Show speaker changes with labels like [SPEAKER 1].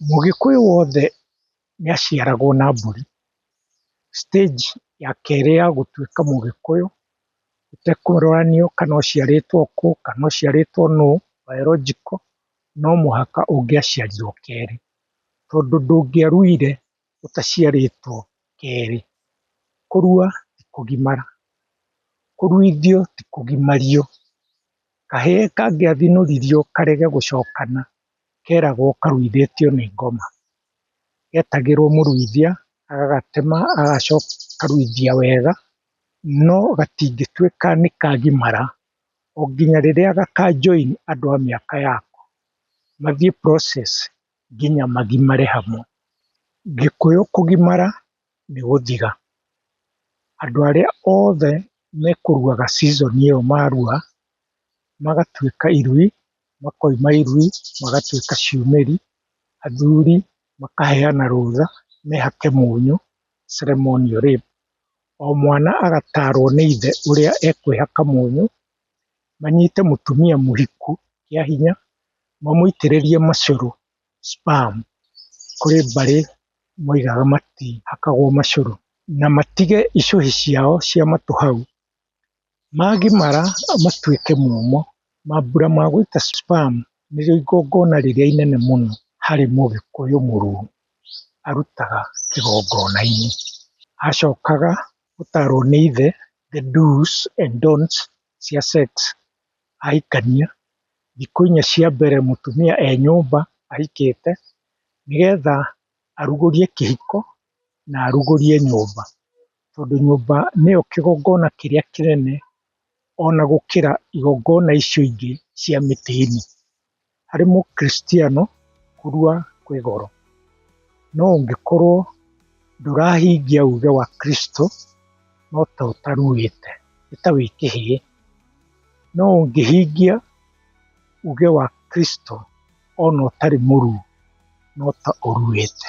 [SPEAKER 1] Mũgĩkũyũ wothe nĩ aciaragwo na mbũri. Stage ya kerĩ ya gũtuĩka mũgĩkũyũ, gũtekũroranio kana ũciarĩtwo kũ, kana ũciarĩtwo nũ, biological, no mũhaka ũngĩaciarirwo kerĩ, tondũ ndũngĩaruire ũtaciarĩtwo kerĩ. Kũrua ti kũgimara, kũruithio ti kũgimario. Kahĩĩ kangĩathĩnũririo karege gũcokana, keragwo karuithĩtio nĩ ngoma. Getagĩrwo mũruithia, agagatema agacoka akaruithia wega, no gatingĩtuĩka nĩ kagimara, o nginya rĩrĩa gaka join andũ a mĩaka yako, mathiĩ process nginya magimare hamwe. Gĩkũyũ kũgimara nĩ gũthira. Andũ arĩa othe mekũruaga season ĩyo marua, magatuĩka irui, makoima irui magatuĩka ciumĩri, athuri makaheana rũtha mehake mũnyũ, ceremonial rape, o mwana agatarwo nĩ ithe ũrĩa ekwĩhaka mũnyũ manyite mũtumia mũriku kĩa hinya, mamũitĩrĩrie macũrũ, sperm, kũrĩ mbarĩ moigaga matihakagwo macũrũ, na matige icũhĩ ciao cia matũ hau, magimara matuĩke momũ, mambura ma gũita sperm nĩrĩo igongona rĩrĩa inene mũno harĩ mũgĩkũyũ mũrũrũ arutaga kĩgongona-inĩ, acokaga gũtarwo nĩ ithe the do's and don'ts cia sex ahikania, thikũ inya cia mbere mũtumia e nyũmba ahikĩte, nĩgetha arugũrie kĩhiko na arugũrie nyũmba, tondũ nyũmba nĩyo kĩgongona kĩrĩa kĩnene ona gũkĩra igongona icio ingĩ cia mĩtĩ-inĩ. Harĩ mũkristiano, kũrua kwĩ goro. No ũngĩkorwo ndũrahingia uge wa Kristo, no ta ũtaruĩte, nĩ ta wĩ kĩhĩĩ. No ũngĩhingia uge wa Kristo ona ũtarĩ mũruu, no ta ũruĩte.